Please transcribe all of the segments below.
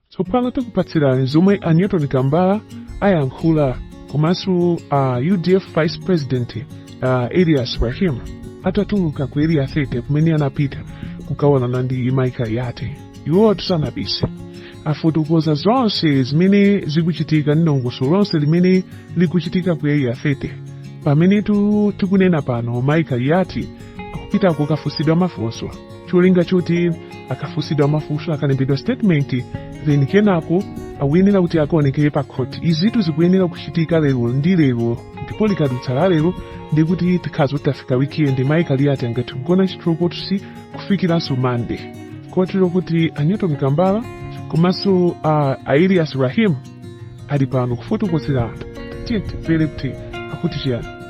Tsopano tikupatsirani zomwe a Newton Kambala wayankhula komanso a UDF Vice President a Elias Rahim atatuluka ku area 30 kumene anapita kukaonana ndi mayi Kaliati. Iwo tisanapitse afotokoza zonse zimene zikuchitika ndi dongosolo lonse limene likuchitika ku area 30 pamenetu tikunena pano mayi Kaliati akupita kukafunsidwa mafunso. cholinga choti akafunsidwe mafunso akalembedwa statement then kenako akuyenera kuti akaonekere pa khoti izitu zikuyenera kuchitika lero ndi lero ndipo likadutsa la lero ndi kuti tikhala tafika weekend mayi Kaliati angathe kugona chitolokosi kufikiranso mande kotero kuti a Newton Kambala komanso a Elias Rahim ali pano kufotokozera anthu tiyeni timvere kuti akuti chiyani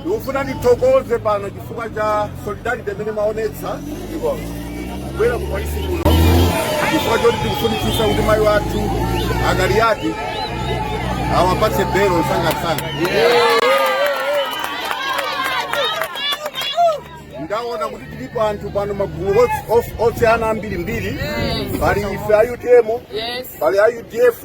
Ndikufuna ndithokoze pano chifukwa cha solidarity imene mwaonetsa kubwera ku polisi kuno chifukwa choti tikufunitsitsa kuti mayi wathu a Kaliati awapatse belo msangamsanga. Ndaona kuti tilipo anthu pano magulu ots- os- osiyana ambirimbiri pali ife a utm pali a udf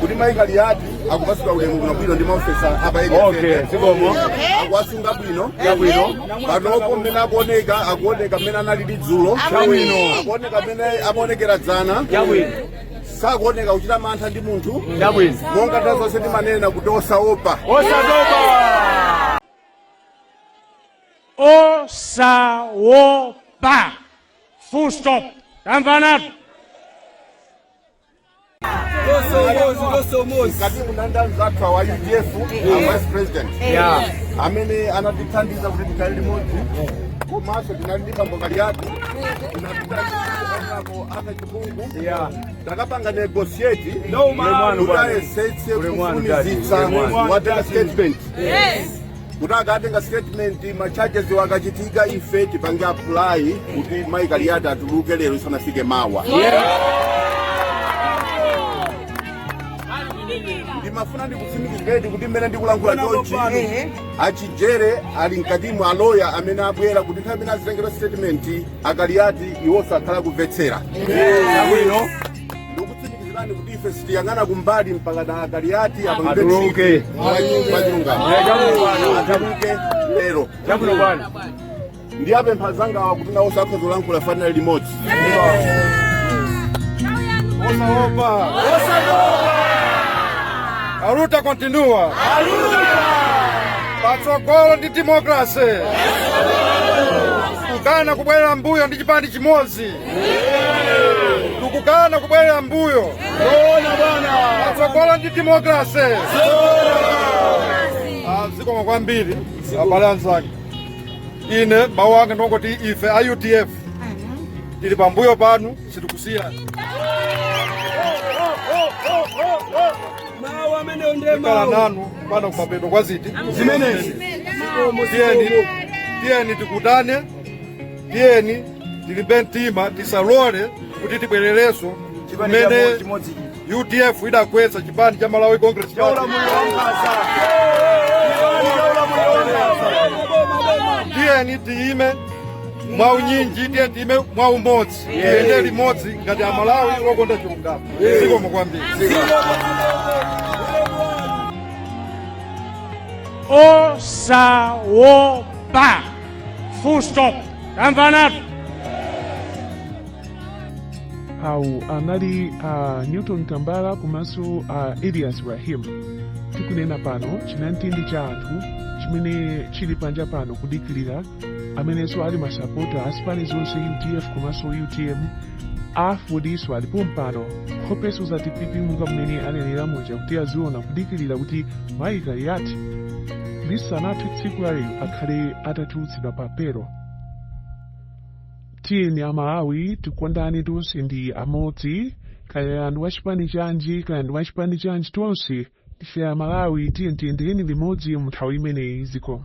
kuti mai Kaliati akupatsidwa ulemu bwinobwino ndi maofesa apa Okay, zikomo. akuwasunga bwino Chabwino. panopo mmene akuoneka akuoneka mmene analili dzulo Chabwino. akuoneka mmene amaonekera dzana Chabwino. sakuoneka kuchita mantha ndi munthu Chabwino. monga nthawi zonse timanena kuti osaopa Osatopa. Osawopa. Full stop. Tamvanatu. mkati ndinali nda anzathu awa udf vice president amene anatithandiza kuti tikhale limodzi komanso tinali ndi bambo Kaliati anatithandizapo a Kachipungu takapanga negosieti kuti ayesetse kufulumizitsa awatenge statement kuti akatenga statement ma charges wo akachitika ife tipange apply kuti mai Kaliati atuluke lero isanafike mawa ndimafuna ndikutsimikizireni kuti mmene ndikulankhula chonchi a Chijere ali mkatimo aloya amene abwera kuti nthawi imene azitengera statement a Kaliati iwo azikhala kumvetsera bwino ndikutsimikizirani kuti ife sitiyang'ana kumbali mpakana a Kaliati apangituluke atuluke lero chabwino bwana ndiwapempha anzangawa kuti nawonso akhale zolankhula tikhalira limodzi osaopa aluta kontinua patsogolo ndi demokrase tikukana kubwerera mbuyo ndi chipani chimodzi tikukana kubwerera mbuyo patsogolo ndi demokrasi zikomo kwambiri abale anzanga ine mawu anga ndongoti ife a udf ili pambuyo panu sitikusiyani mawu amenewo ndiye tikhala nanu mpaka kumapeto kwa zinthu zimenezi tiyeni tiyeni tigwirane tiyeni tilimbe mtima tisalole kuti tibwererenso kumene udf idagwetsa chipani cha malawi congress tiyeni tiyime mwa unyinji tiye tiyime mwa umodzi tiyende limodzi ngati amalawi okonda chilungamo zikomo kwambiri osawopa full stop amenewo anali a newton kambala komanso a elias rahim tikunena pano chinamtindi cha anthu chimene chili panja pano kudikirira amenenso ali masapota a zipani zonse udf komanso utm Afordnso ali pompano, nkhope zosatipepuka mmene anenera muja kuti aziona kudikirira kuti mayi Kaliati lisanathe tsiku la lero akhale atatulutsidwa pa belo. Tiyeni Amalawi tikondane tonse ndi amodzi, kaya ndi wachipani chanji, kaya ndi wachipani chanji tonse ndife Amalawi tiyeni tiyendereni limodzi mu nthawi imeneyi zikomo.